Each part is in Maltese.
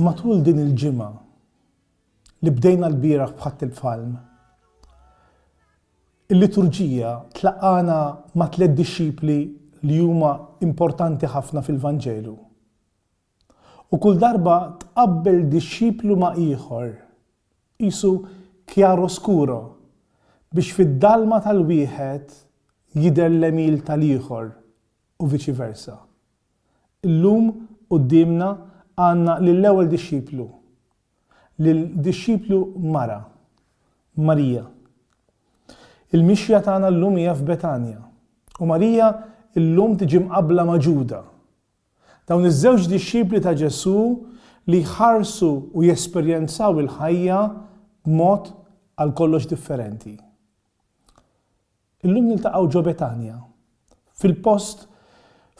Matul din il-ġimgħa li bdejna l-bieraħ bħadd il-palm, il-liturġija tlaqana ma' tliet dixxipli li huma importanti ħafna fil-Vanġelu. U kull darba tqabbel dixxiplu ma' ieħor, qisu chiaroscuro, biex fid-dalma tal-wieħed jidher l-għemil tal-ieħor u viċi versa. Illum quddiemna għandna lill-ewwel dixxiplu, lil dixxiplu mara, Marija. Il-mixja tagħna llum hija f'Betanja, u Marija llum tiġi mqabbla ma' Ġuda, Dawn iż-żewġ dixxipli ta' Ġesù li jħarsu u jesperjenzaw il-ħajja b'mod għal kollox differenti. Illum niltaqgħu ġo Betanja, fil-post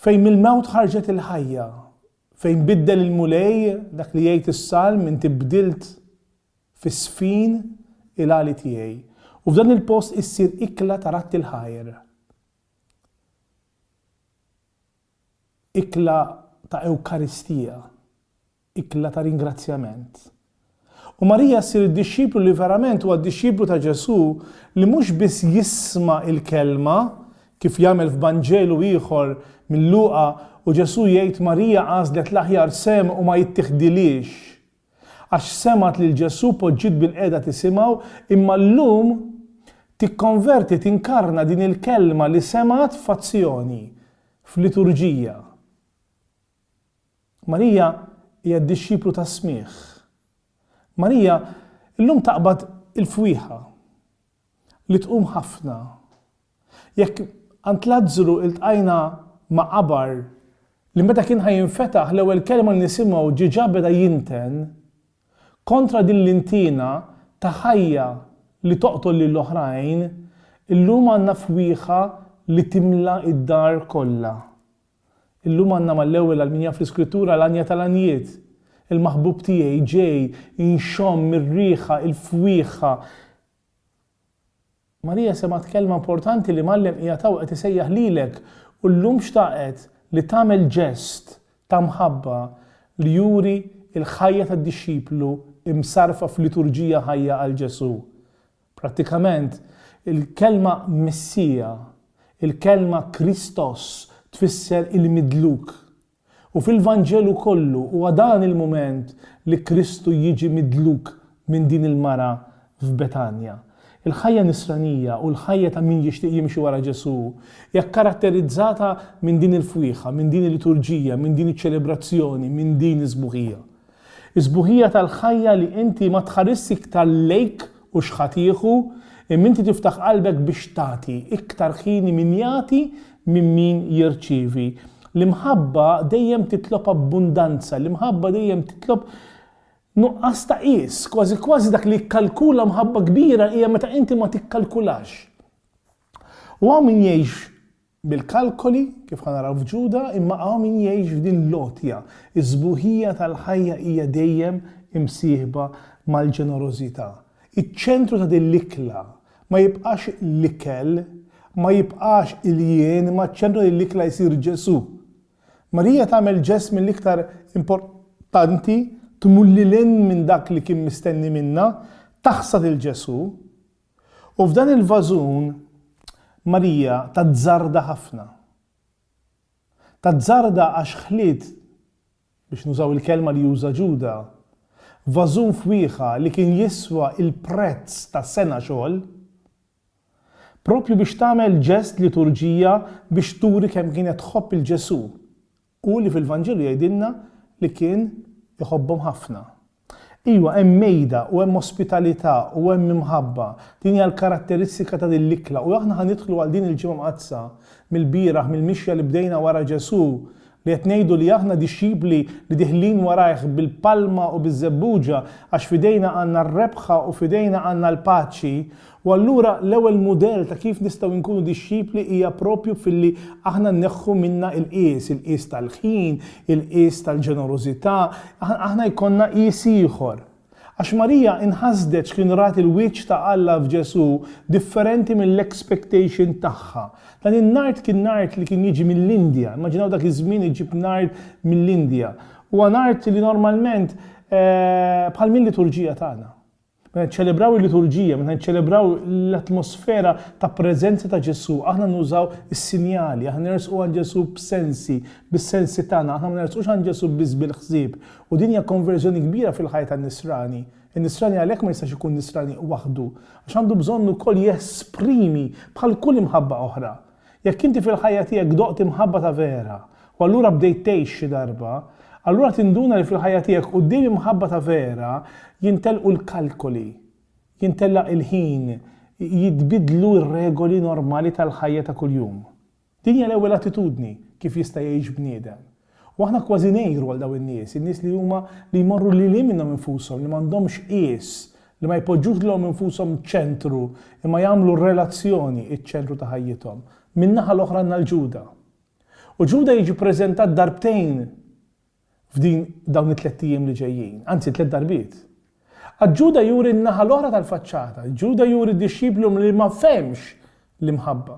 fejn mill-mewt ħarġet il-ħajja, fejn biddel il-Mulej dak li jgħid is-Salm inti bdilt fis-sfin il-għali tiegħi, u f'dan il-post issir ikla ta' ratti l-ħajr. ikla ta' Ewkaristija, ikla ta' ringrazzjament. U Marija ssir id-dixxiplu li verament huwa d-dixxiplu ta' Ġesù li mhux biss jisma' l-kelma, kif jagħmel f'Vanġelu ieħor minn Luqa u Ġesù jgħid Marija għażlet l-aħjar sehem u ma jittiħdilhiex. għax semgħet lil Ġesù poġġiet bilqiegħda tisimgħu, imma llum tikkonverti tinkarna din il-kelma li semgħet f'azzjoni, f'liturġija. Marija hija d-dixxiplu tas-smigħ. Marija llum taqbad il-fwieħa li tqum ħafna Jekk għand Lazzru iltqajna ma' qabar li meta kien ħa jinfetaħ l-ewwel kelma li nisimgħu ġiġa beda jinten kontra din l-intiena ta' ħajja li toqtol lil oħrajn, illum għandna fwieħa li timla d-dar kollha. Illum għandna mal-ewwel għal min jaf l-Iskrittura l-għanja tal-għanjiet, il-maħbub tiegħi ġej inxomm ir-riħa, il-fwieħa, Marija semgħet kelma importanti li Mgħallem qiegħed hawn qed isejjaħ lilek u llum xtaqet li tagħmel ġest ta' mħabba li juri l-ħajja tad-dixxiplu msarrfa f'liturġija ħajja għal Ġesù. Prattikament, il-kelma Messija, il-kelma Kristos tfisser il-midluk. U fil-Vanġelu kollu huwa dan il-mument li Kristu jiġi midluk minn din il-mara f'Betanja. Il-ħajja nisranija u l-ħajja ta' min jixtieq jimxi wara Ġesù hija kkaratterizzata minn din il-fwieħa, minn din il-liturġija, minn din iċ-ċelebrazzjoni, minn din is-sbuħija. Is-sbuħija tal-ħajja li inti ma tħarisx iktar lejk u x'ħa tieħu, imma inti tiftaħ qalbek biex tagħti, iktar ħini min jagħti minn min jirċievi. L-imħabba dejjem titlob abbundanza, l-imħabba dejjem titlob nuqqas ta' qies, kważi kważi dak li jikkalkula mħabba kbira hija meta inti ma tikkalkulax. U hawn min jgħix bil-kalkoli, kif ħa naraw f'Ġuda, imma hawn min jgħix f'din l-għotja. Is-sbuħija tal-ħajja hija dejjem imsieħba mal-ġenerożità. Iċ-ċentru ta' din l-ikla ma jibqax l-ikel, ma jibqax il-jien, imma ċ-ċentru ta' din l-ikla jsir Ġesù. Marija tagħmel ġest mill-iktar importanti tmur lil hinn minn dak li kien mistenni minnha, taħsad 'il Ġesù, U f'dan il-vażun Marija tazzarda ħafna. Tazzarda għax ħliet, biex nużaw il-kelma li uża Ġuda, vażun fwieħa li kien jiswa l-prezz ta' sena xogħol, proprju biex tagħmel ġest liturġija biex turi kemm kienet tħobb 'il Ġesù U li fil-Vanġelu jgħidilna li kien iħobbhom ħafna. Iwa, hemm mejda u hemm ospitalità u hemm imħabba. Din hija l-karatteristika ta' din l-ikla u aħna ħa nidħlu għal din il-Ġimgħa Mqaddsa mill-bieraħ mill-mixja li bdejna wara Ġesù li qed ngħidu li aħna dixxipli li diħlin warajh bil-palma u biż-żebbuġa għax f'idejna għandna r-rebħa u f'idejna għandna l-paċi U allura l-ewwel mudell ta' kif nistgħu nkunu dixxipli hija proprju filli aħna nneħħu minna il-qies, il-qies tal-ħin, il-qies tal-ġenerożità, aħna jkollna qies ieħor. Għax Marija inħasdet x'kien rat il-wiċċ ta' Alla f'Ġesù differenti mill-expectation tagħha. Dan in-nard kien nard li kien jiġi mill-Indja, immaġinaw dak iż-żmien iġib nard mill-Indja. Huwa nard li normalment bħal mil-liturġija tagħna. Meta niċċelebraw il-liturġija, meta niċċelebraw l-atmosfera ta' preżenza ta' Ġesù, aħna nużaw is-sinjali, aħna nersqu għand Ġesù b'sensi, bis-sensi tagħna, aħna ma nersqux għand Ġesù biss bil-ħsieb. U din hija konverżjoni kbira fil-ħajja tan-nisrani. In-nisrani għalhekk ma jistax ikun nisrani waħdu, għax għandu bżonn ukoll jesprimi bħal kull imħabba oħra, Jekk inti fil-ħajja tiegħek doqt imħabba ta' vera u allura bdejt tgħix xi darba, allura tinduna li fil-ħajja tiegħek quddiem imħabba ta' vera jintelqu l-kalkoli, jintellaq il-ħin, jitbiddlu r-regoli normali tal-ħajja ta' kuljum. Din hija l-ewwel attitudni kif jista' jgħix bniedem. U aħna kważi ngħiru għal dawn in-nies, in-nies li huma li jmorru lil hinn minnhom infushom, li m'għandhomx qies, li ma jpoġġux lilhom infushom ċentru, imma jagħmlu r-relazzjoni ċ-ċentru ta' ħajjithom. Min-naħa l-oħra għandna 'l Ġuda. U Ġuda jiġi ppreżentat darbtejn f'din dawn it-tlett ijiem li ġejjin, anzi tliet darbiet. Għad Ġuda juri n-naħa l-oħra tal-faċċata. Ġuda juri dixxiplu li ma fehmx l-imħabba.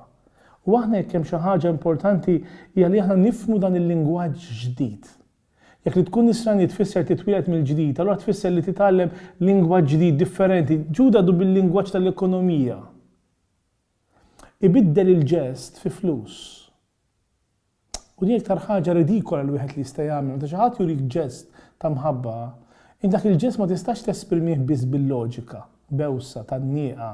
U aħna jekk hemm xi ħaġa importanti hija li aħna nifhmu dan il-lingwaġġ ġdid. Jekk li tkun nisrani tfisser titwieled mill-ġdid, allura tfisser li titgħallem lingwaġġ ġdid differenti. Ġuda du bil-lingwaġġ tal-ekonomija. Ibiddel il-ġest fi flus. U din l-iktar ħaġa ridikola li wieħed li jista' jagħmel. Meta xi ħadd jurik ġest ta' mħabba, int dak il-ġest ma tistax tesprimih biss bil-loġika, bewsa, tgħannieqa,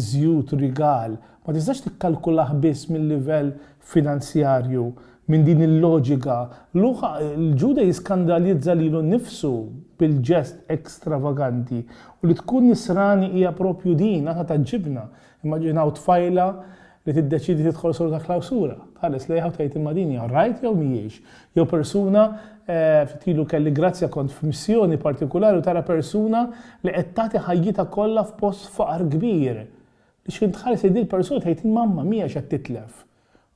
żjut, rigal. Ma tistax tikkalkulah biss mil-livell finanzjarju, minn din il-loġika. Luqa, il-Ġuda jiskandalizza lilu nnifsu bil-ġest ekstravaganti. U li tkun Nisrani hija proprju din, aħna tgħaġġibna. Immaġinaw tfajla li tiddeċiedi tidħol solo ta' klawsura. Tħares lejha u tgħid imma din hija right jew mhijiex? Jew persuna, ftit ilu kelli grazzja kont f'missjoni partikulari u tara persuna li qed tagħti ħajjitha kollha f'post faqar kbir. Li x'ħin tħares lejn din il-persuna tgħid imma ma mhijiex qed titlef.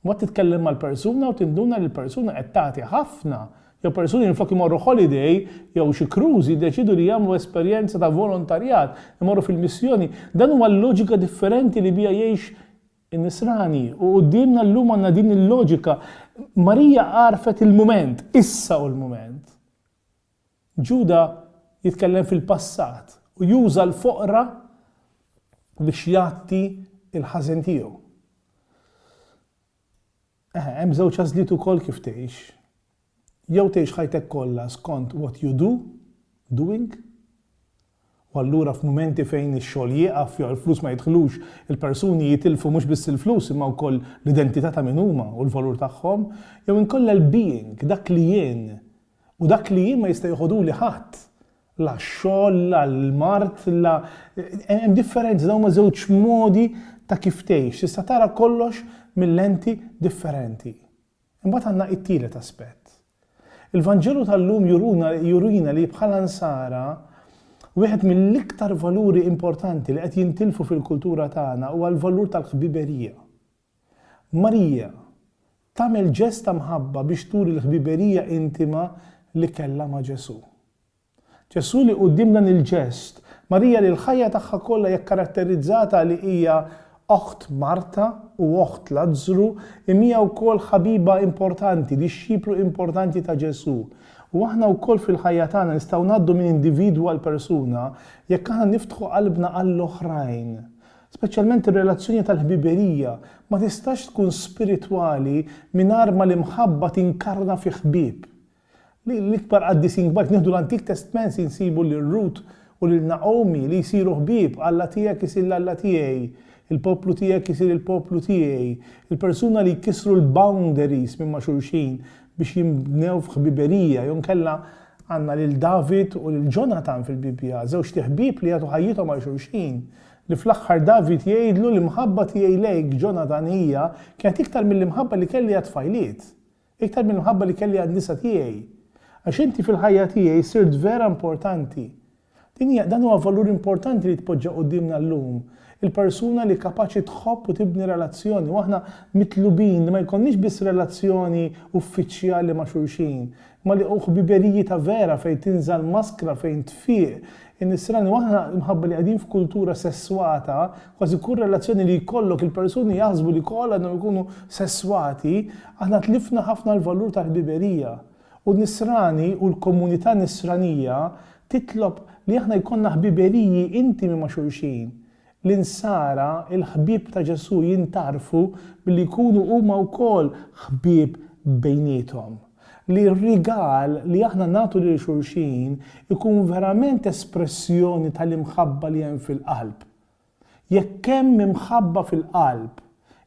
Mbagħad titkellem mal-persuna u tinduna li l-persuna qed tagħti ħafna Jew persuni minflok imorru holiday jew xi cruise jiddeċiedu li jagħmlu esperjenza ta' volontarjat, imorru fil-missjoni. Dan huwa l-loġika differenti li biha jgħix in-Nisrani u quddiemna llum għandna din il-loġika. Marija għarfet il-mument, issa hu l-mument. Ġuda jitkellem fil-passat u juża l-foqra biex jgħatti l-ħażen tiegħu. Eħe, hemm żewġ għażliet ukoll kif tgħix. Jew tgħix ħajtek kollha skont what you do, doing, u allura f'mumenti fejn ix-xogħol jieqaf jew il-flus ma jidħlux, il-persuni jitilfu mhux biss il-flus imma wkoll l-identità ta' min huma u l-valur tagħhom, jew inkollha l-being, dak li jien, u dak li jien ma jista' jeħodhuli ħadd, la x-xogħol, la l-mard, la hemm differenzi, dawn huma żewġ modi ta' kif tgħix. Tista' tara kollox mil-lenti differenti. Imbagħad għandna it-tielet aspett. Il-Vanġelu tal-lum juruna jurina li bħala nsara wieħed mill-iktar valuri importanti li qed jintilfu fil-kultura tagħna huwa l-valur tal-ħbiberija. Marija, tagħmel ġest ta' mħabba biex turi l-ħbiberija intima li kellha ma' Ġesù. Ġesù li quddiem dan il-ġest, Marija li l-ħajja tagħha kollha hija kkaratterizzata li hija oħt Marta u oħt Lazzru, imija wkoll ħabiba importanti, dixxiplu importanti ta' Ġesù. U aħna wkoll fil-ħajja tagħna nistgħu ngħaddu minn individwu għal persuna jekk aħna niftħu qalbna għall-oħrajn. Speċjalment ir-relazzjoni tal-ħbiberija ma tistax tkun spiritwali mingħajr ma l-imħabba tinkarna fi ħbieb. L-ikbar qaddisin kbar, jekk nieħdu l-Antik Testment insibu lil Rut u lil Nagħomi li jsiru ħbieb, Alla tiegħek isir l-Alla tiegħi, il-poplu tiegħek isir il-poplu tiegħi, il-persuna li jkissru l-boundaries minn ma' xulxin biex jinbnew f'ħbiberija, jew inkella għandna lil David u lil Ġonatan fil-Bibbja, żewġt iħbieb li jagħtu ħajjithom għal xulxin. Li fl-aħħar David jgħidlu, L-imħabba tiegħi lejk, Ġonatan, hija, kienet iktar mill-imħabba li kelli għat-tfajliet, iktar mill-imħabba li kelli għan-nisa tiegħi. Għax inti fil-ħajja tiegħi sirt vera importanti. Din hija, dan huwa valur importanti li jitpoġġa quddiemna llum, il-persuna li kapaċi tħobb u tibni relazzjoni. U aħna mitlubin li ma jkollniex biss relazzjoni uffiċjali ma' xulxin, Ma li hu ħbiberiji ta' vera fejn tinżal maskra fejn tfiq in-nisrani u aħna imħabba li qegħdin f'kultura sesswata kważi kull relazzjoni li jkollok il-persuni jaħsbu li koll għandhom ikunu sesswati aħna tlifna ħafna l-valur tal-ħbiberija u n-nisrani u l-komunità nisranija titlob li aħna jkollna ħbiberiji intimi ma' xulxin L-Insara, il-ħbieb ta' Ġesù jintgħarfu billi jkunu huma wkoll ħbieb bejniethom. Li r-rigal li aħna nagħtu lil xulxin ikun verament espressjoni tal-imħabba li hemm fil-qalb. Jekk hemm imħabba fil-qalb,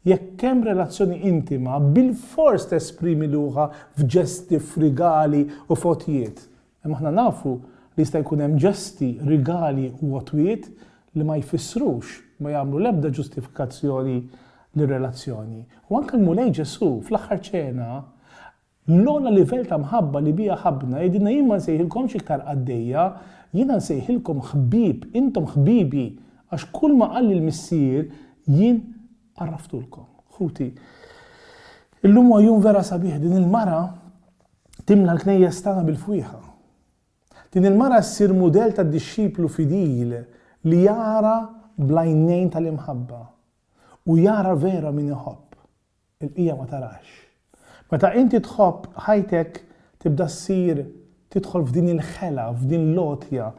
jekk hemm relazzjoni intima, bilfors tesprimi luħha f'ġesti, f'rigali u f'għotjiet. Imma aħna nafu li jista' jkun hemm ġesti, rigali u għotwiet li ma jfissrux, ma jagħmlu l-ebda ġustifikazzjoni lir-relazzjoni. U anke l-Mulej Ġesù, fl-Aħħar Ċena, l-ogħla livell ta' mħabba li biha ħabbna, jgħidilna, Jien ma nsejħilkomx iktar qaddejja, jiena nsejħilkom ħbieb, intom ħbibi, għax kulma qalli l-Missier, jien għarraftulkom. Ħuti, illum huwa jum vera sabiħ, din il-mara, Timla l-knejjes tagħna bil-fwieħa. Din il-mara ssir mudell ta' dixxiplu fidil li jara bl-għajnejn tal-imħabba u jara vera min iħobb. Il-bqija ma tarax. Meta inti tħobb, ħajtek tibda ssir tidħol f'din il-ħela, f'din l-għotja.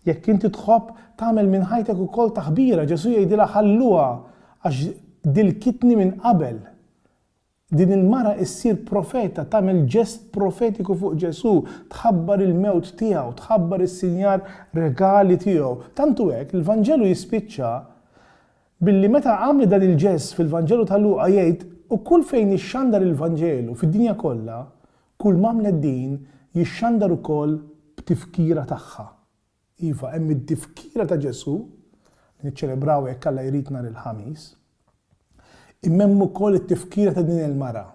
Jekk inti tħobb, tagħmel minn ħajtek ukoll taħbira. Ġesù jgħidilha ħalluha għax dilkitni minn qabel. Din il-mara issir profeta, tagħmel ġest profetiku fuq Ġesù, tħabbar il-mewt tiegħu, tħabbar is-sinjar regali tiegħu. Tant hu hekk, l-Vanġelu jispiċċa billi meta għamlet dan il-ġest fil-Vanġelu ta' Luqa jgħid, U kull fejn ixxandar il-Vanġelu fid-dinja kollha, kulm'għamlet din jixxandar ukoll b'tifkira tagħha. Iva, hemm id-difkira ta' Ġesù, li niċċelebraw jekk Alla jrid nhar il-Ħamis, imma hemm ukoll it-tifkira ta' din il-mara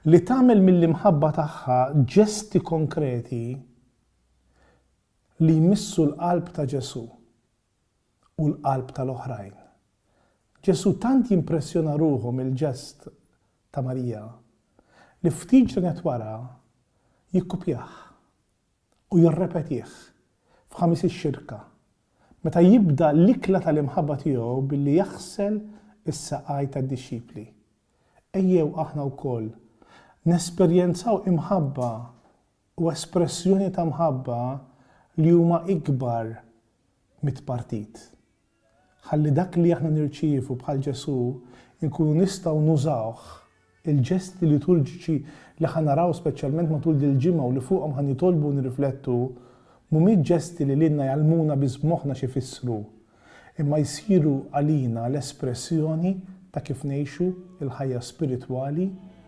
li tagħmel mill-imħabba tagħha ġesti konkreti li jmissu l-qalb ta' Ġesù u l-qalb tal-oħrajn. Ġesù tant jimpressjona ruħu mill-ġest ta' Marija li ftit ġranet wara jikkupjah u jirrepetih f'Ħamis ix-Xirka, meta jibda l-ikla tal-imħabba tiegħu billi jaħsel is-saqajn tad-dixxipli. Ejjew aħna wkoll nesperjenzaw imħabba u espressjoni ta' mħabba li huma ikbar mit-tpartit. Ħalli dak li aħna nirċievu bħal Ġesù nkunu nistgħu nużawh, il-ġesti liturġiċi li ħa naraw speċjalment matul dil-ġimgħa u li fuqhom ħa nitolbu u nirriflettu mhumiex ġesti li lilna jgħallmuna biss b'moħħna x'ifissru, imma jsiru għalina l-espressjoni ta' kif ngħixu l-ħajja spiritwali,